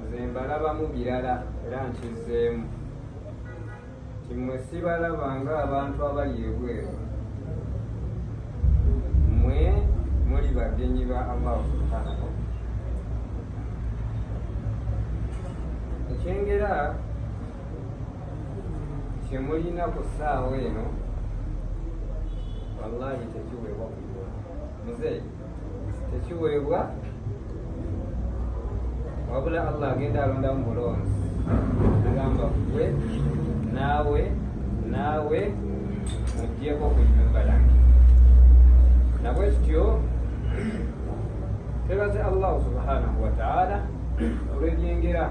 nze mbalabamu birala era nkizzeemu kimwe sibalaba nga abantu abali ebweru mwe muli bagenyi ba allahu subhanahu ekyengera kyemulina ku ssaawa eno wallahi tekiweebwa kuiwa muzeeyi tekiweebwa wabula allah agenda alonda mu bulonzi agamba gwe naawe naawe mujjeko ku nyumba yange nabwe kityo twebaze allahu subhanahu wataala olwebyengera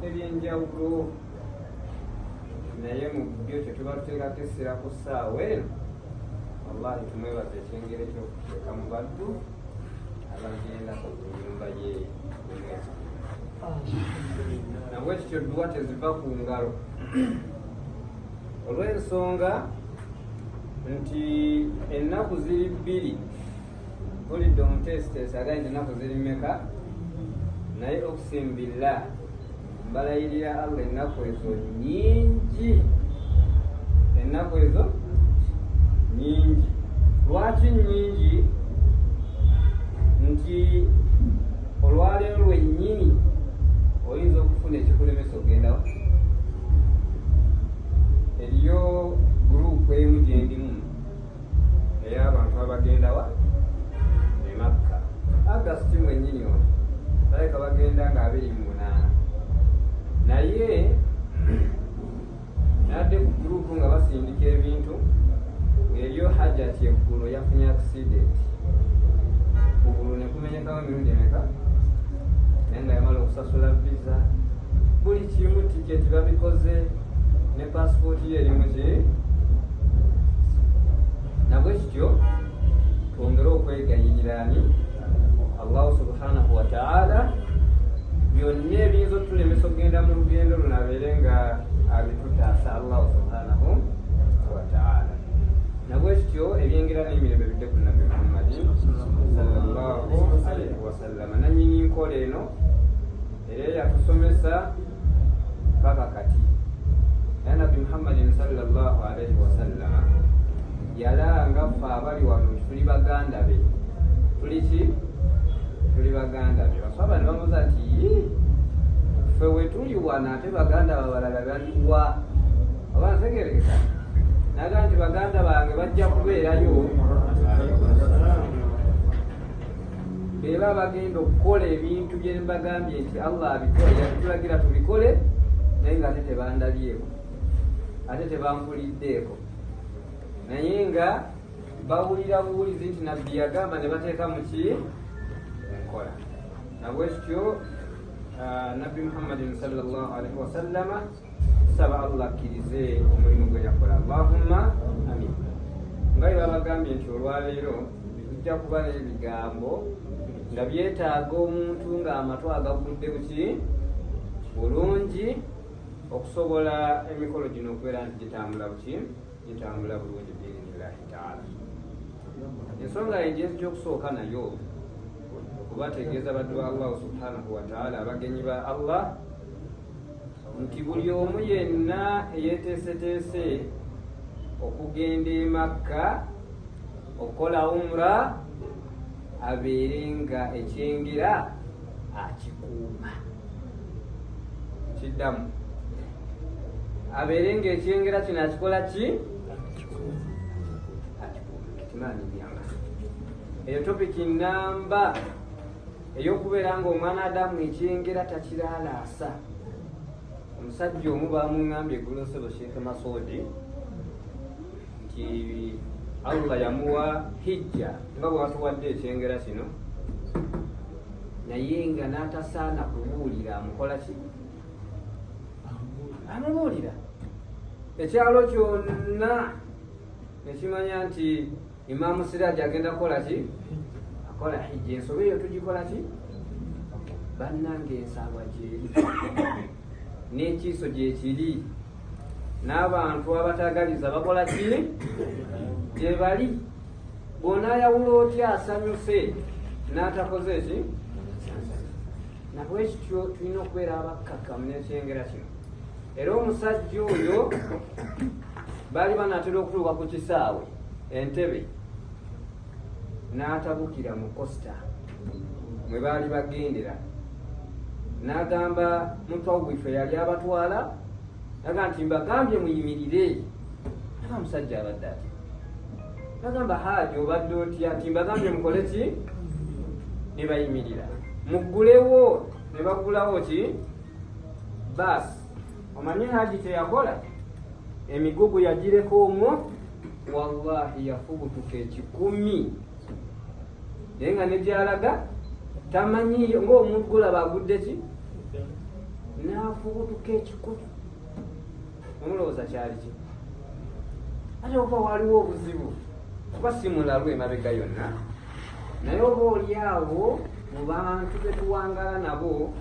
ebyenjawulo naye mu byo kyetuba tuteekako essira ku ssaawa eno wallahi tumwebaza ekyengere kyokuteeka mu baddu abagenda ku nyumba ye omwezi nabwe kityo dduwa teziva ku ngalo olw'ensonga nti ennaku ziri bbiri bulidde omuteesiteesi agayinza ennaku ziri mmeka naye okusimbilla mbalayirira allah ennaku ezo nyingi ennaku ezo nyingi lwaki nyingi nti olwaleero lwennyini oyinza okufuna ekikulemesa ogendawo eriyo gurupu emu gyendimu naye abantu abagendawa emakka agasti mwenyini ono baleka bagenda nga abiri mu munaana naye nadde ku gurupu nga basindika ebintu eryo hajati eggulo yafunye akisidenti kugulu nekumenya naye nga yamala okusasula visa buli kimu tiketi babikoze ne pasipooti ye erimu ki nabwe kityo twongere okwegayirira ani allahu subhanahu wataala byonna ebiyinza otulemesa okugenda mu lugendo luno abeere nga abitutaasa allahu subhanahu wataala nabwekityo ebyengera n'emirembe bidde ku nabbi muhammadi sallallahu alaihi wasallama nanyini nkola eno era yatusomesa paka kati naye nabbi muhammadin sallallahu alaihi wasallama yalanga ffe abali wano nti tuli baganda be tuli ki tuli baganda be baswaba ne bamuza nti ffe wetuli wano ate baganda babalala baliwa oba ntegerekeka naga nti baganda bange bajja kubeerayo beba bagenda okukola ebintu byembagambye nti allah abikole yatulagira tubikole naye nga ate tebandabyeeko ate tebampuliddeeko naye nga bawulira buwulizi nti nabbi yagamba ne bateeka mu ki enkola nabwekityo ah, nabbi muhammadin salllah alaihi wasallama tusaba allah akkirize omulimu gwe yakola allahumma amin nga bwe babagambye nti olwaleero tujja kuba n'ebigambo nga byetaaga omuntu ng'amatu agagudde buki bulungi okusobola emikolo gino okubeera nti gitambula buki gitambula bulungi biinillahi taala ensonga yenjezi gyokusooka nayo okubategeeza baddu ba allahu subhanahu wataala abagenyi ba allah nti buli omu yenna eyeteeseteese okugenda emakka okukola umra abeere nga ekyengera akikuuma kiddamu abeere nga ekyengera kino akikola ki akikuuma eyo topiki namba eyokubeera nga omwana adamu ekyengera takiralaasa omusajja omu bamungambye egulosebo sheekh masoodi nti allah yamuwa hijja nga bwatuwadde ekyengera kino naye nga natasaana kubuulira amukola ki amubuulira ekyalo kyonna nekimanya nti Imaamu Siraji agenda kukola ki? Akola hijja. Ensobi eyo tugikola ki? Bannange ensaalwa gyeri n'ekiiso gyekiri n'abantu abatagaliza bakola ki? Gyebali bw'onaayawula otya asanyuse n'atakoze ki? Nabwekityo tulina okubeera abakkakkamu n'ekyengera kino era omusajja oyo baali banaatera okutuuka ku kisaawe entebe n'atabukira mu kosita mwe baali bagendera n'agamba mutwawife yali abatwala naga nti mbagambye muyimirire aba musajja abadde ati nagamba haaji obadde otya nti mbagambye mukole ki ne bayimirira muggulewo ne baggulawo ki baasi omanyi haji kyeyakola emigugu yagireka omwo wallahi yafubutuka ekikumi naye nga negyalaga tamanyiyo ngaomuntu gulaba agudde ki nafubutuka ekikumi omulowooza kyali ki ate okuba waliwo obuzibu kuba simulalu emabega yonna naye oba oli awo mu bantu betuwangala nabo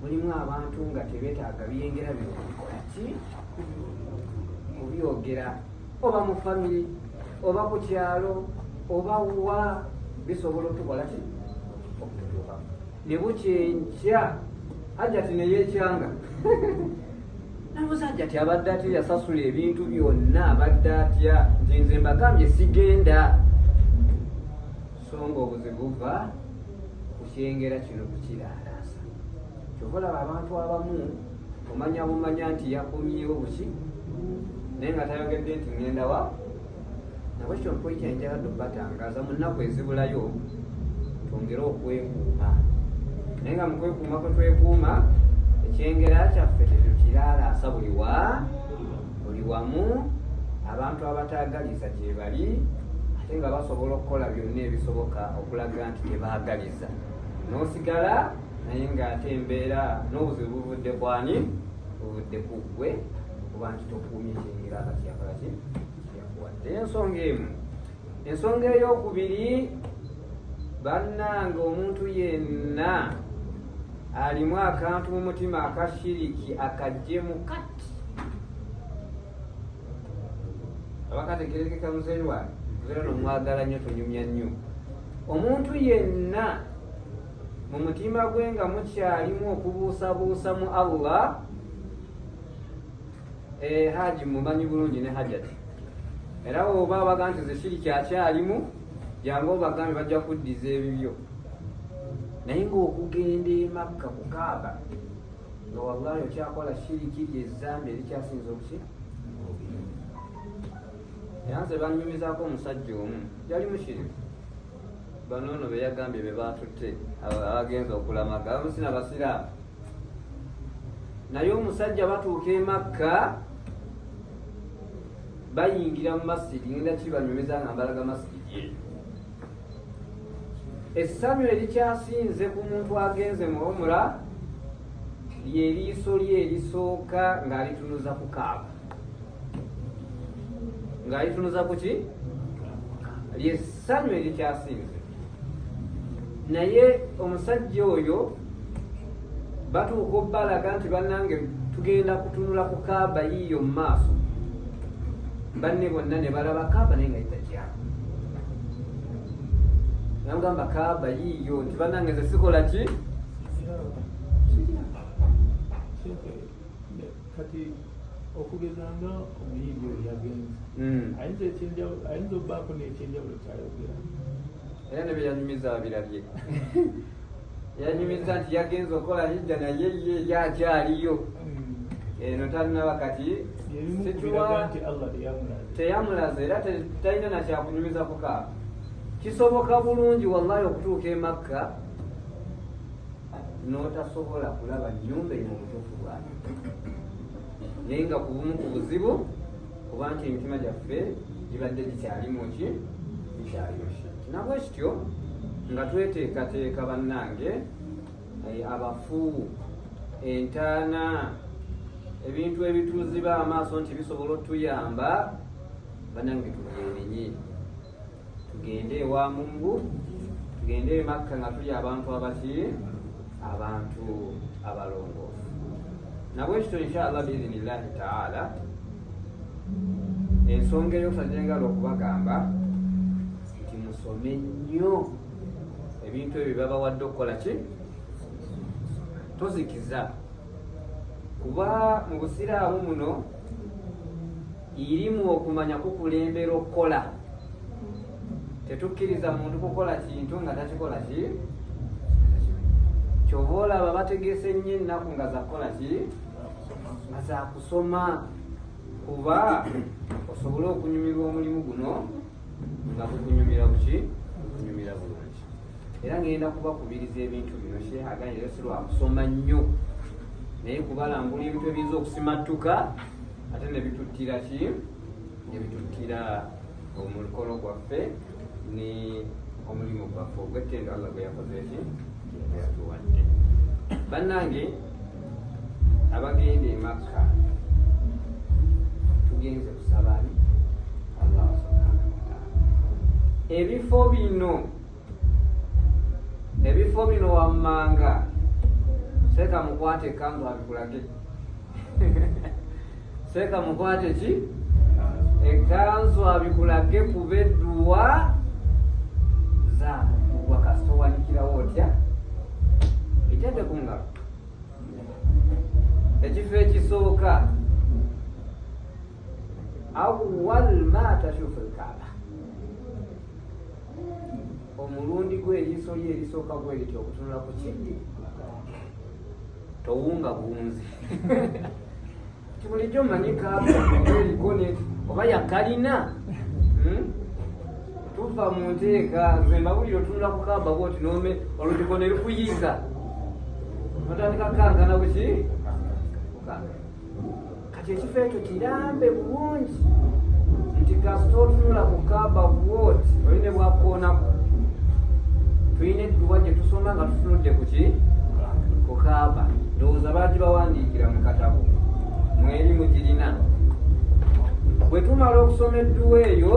mulimu abantu nga tebetaaga byengera byokolaki kubyogera oba mu famire oba ku kyalo oba wa bisobola otukola ki okututuuka ne bukyenkya hajati neyekyanga nabuza nti ati abadde atya yasasula ebintu byonna abadde atya nti nze mbagambye sigenda so nga obuzibu buva kukyengera kino kukiraalaasa kyova olaba abantu abamu omanya bumanya nti yakomyewo buki naye nga tayogedde nti ŋenda wa nabo kino mpoyi kyenjala tubatangaza mu nnaku ezibulayo twongere okwekuuma naye nga mukwekuuma kwe twekuuma ekyengera kyaffe tetukiraalaasa buli wa buli wamu abantu abataagaliza gye bali ate nga basobola okukola byonna ebisoboka okulaga nti tebaagaliza n'osigala naye ng'ate embeera n'obuzibu buvudde kwani ovudde ku ggwe okuba nti tokuumye kyengera nga kyakola ki kyakuwadde ensonga emu ensonga eyokubiri bannanga omuntu yenna alimu akantu mu mutima akashiriki akajjemu kati abakategerekeka muzeeyi wange era nomwagala nnyo tonyumya nnyo omuntu yenna mu mutima gwe nga mukyalimu okubuusabuusa mu allah eh, haji mumanyi bulungi ne hajati era oba abaga nti zesiri kyakyalimu jangu obagambe bajja kuddiza ebibyo naye ngaokugenda emakka kukaaba nga wallahi okyakola shiriki lyezambi erikyasinza okuki yanze banyumizako omusajja omu yali mushiriku bano no beyagambye be baatutte abagenza okulamaga abamu sina basiraamu naye omusajja batuuka emakka bayingira mu masidi ngenda kibanyumiza nga mbalaga masidi ye essanyu erikyasinze ku muntu agenze mu omura lyeriiso lye erisooka ng'alitunuza ku kaaba ng'alitunuza ku ki lyessanyu erikyasinze naye omusajja oyo batuuka obbalaga nti bannange tugenda kutunula ku kaaba yiiyo mu maaso banne bonna ne balaba kaaba naye nga yitakyabo namugamba kaaba yiiyo nti bannange ze sikola ki kati okugeza nga omuyimbi oyo yagenze hmm. ayinza ekyenjawulo ayinza okubaako n'ekyenjawulo kyayogera era ne byeyanyumiza abirabye yanyumiza nti yagenze okola hijja naye ye yakyaliyo hmm. eno talinaba kati teyamulaza era talina nakyakunyumiza kukaaba kisoboka bulungi wallahi okutuuka emakka n'otasobola kulaba nnyumba eyo mu butuufu bwayo naye nga ku bumu ku buzibu kuba nti emitima gyaffe gibadde gikyalimu ki gikyayoshe nabwe kityo nga tweteekateeka bannange eh, abafu entaana ebintu ebituuziba amaaso nti bisobola otuyamba banange tubyenenye tugende ewa mungu tugende emakka nga tuli abantu abaki abantu abalongoofu nabwekityo inshallah biidhinillahi taala ensonga eyokusa gyengala okubagamba nti musome nnyo ebintu ebyo byabawadde okukola ki tozikiza kuba mu busiraamu muno irimu okumanya kukulembera okukola tetukkiriza muntu kukola kintu nga takikola ki kyova olaba bategese nnyo ennaku nga zakukola ki nga zakusoma kuba osobole okunyumirwa omulimu guno nga gukunyumira buki gukunyumira bulungi era ngenda kubakubiriza ebintu bino shehaganyeyo sirwakusoma nnyo naye kubalambula ebintu ebiyinza okusimattuka ate nebituttira ki nebituttira omukolo gwaffe ne omulimu gwaffe ogwettendo allah gwe yakoze ki yatuwadde bannange abagenda emakka tugenze kusabani allah subhanahu wataala ebifo bino ebifo bino wammanga seeka mukwate ekanzu abikulage seeka mukwate ki ekanzu abikulage kuba edduwa zaamugwa kasita owanikirawo otya itende ku ngalo ekifo ekisooka awal ma tashufu lkaaba omulundi gwe eriiso lye erisooka gwe liti okutunula ku kiddi towunga bunzi tibulijjo manyi kaaba eriko ne oba yakalina hmm? tuva mu nteeka nze mbabulire otunula ku kaaba bwoti nome olutiko ne lukuyiza notandika kankana buki kukangana kati ekifo ekyo kirambe bulungi nti kasita otunula ku kaba wot oli ne bwakoonako tulina edduwa gye tusoma nga tutunudde ku ki ku kaba ndowooza baaki bawandiikira mu katabo mweri mugirina bwe tumala okusoma edduwa eyo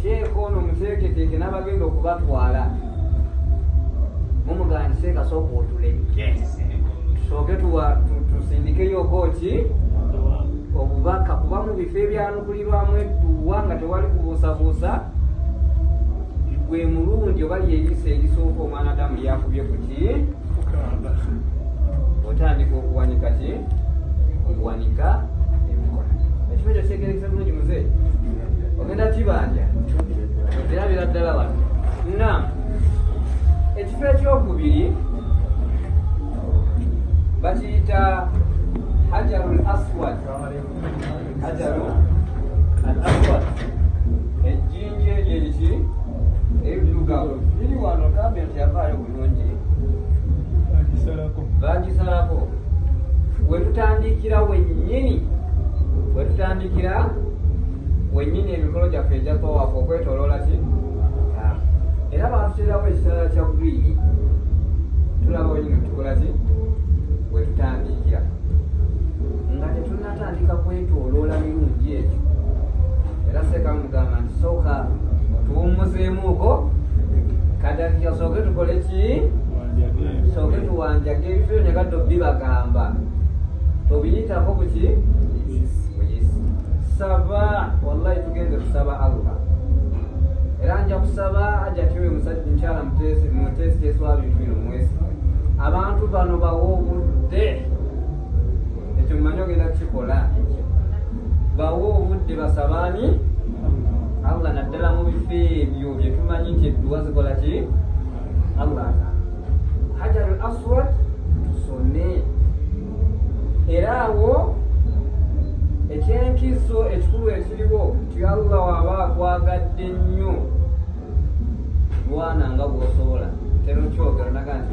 sheeka ono muteeketeeke n'abagenda okubatwala mumugani seeka sooka otuleke tusooke tusindikeyoko ki obubaka kuba mu bifo ebyanukulirwamu edduwa nga tewali kubuusabuusa gwe mulundi oba lyeyisa erisooka omwana damu yakubye kuki otandika okuwanika ki okuwanika emikono ekifo ekyo kyegerekesa bulungi muze ogenda kibanja okirabira ddala wano na ekifo ekyokubiri bakiyita hajaru l aswad hajaru al aswad ejjinja eryo ki ebidugavu biri wano kambe nti yavaayo bagisalako wetutandikira wenyini wetutandikira wenyini emikolo gyaffe egya tawafu okwetoloola ki era batuterawo ekisala kya bwiyi tulaba wenyini tukola ki wetutandikira nga tetuna atandika kwetoloola mirungi egyo era seeka mugamba nti sooka tuwummuzeemuuko kadakika sooke tukole ki sooke tuwanjaga ebifo byo negaddo bibagamba tobiyitako kuki saba wallahi tugenze kusaba allah era nja kusaba ajatiwe musajja mukyala mutesi mutesi teeswa bintu bino mwesi abantu bano bawa obudde ekyo mmanyi ogenda kukikola bawe obudde basabaani allah naddala mu bifo ebyo byetumanyi nti edduwa zikola ki allah hajar al aswad tusome era awo ekyenkizo ekikulu ekiriwo nti allah waba akwagadde nnyo lwana nga bwosobola tero kyogera naga nti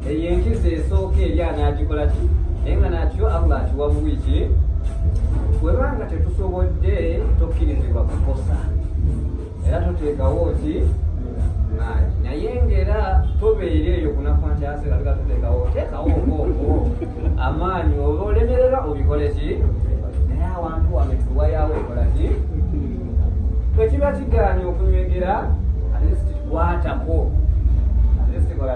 eyo enkizo esooka eri anaagikola ki naye nga nakyo allah akiwa buwi ki webanga tetusobodde tokkirizibwa kukosa era tuteekawo ki maali naye ngaera tobeera eyo kunafa nti asera tuga tuteekawo teekawo okooko amaanyi oba olemerera obikole ki naye awantu wano etuwayawo ekola ki kwekiba kigaanyi okunywegera atesi kikwatako atesi kikola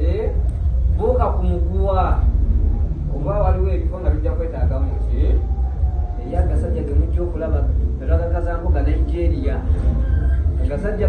eh, buuka ku muguwa oba waliwo ebifo nga bijja kwetaagamu ki eyo agasajja gemujja okulaba agagazambuga nigeria agasajja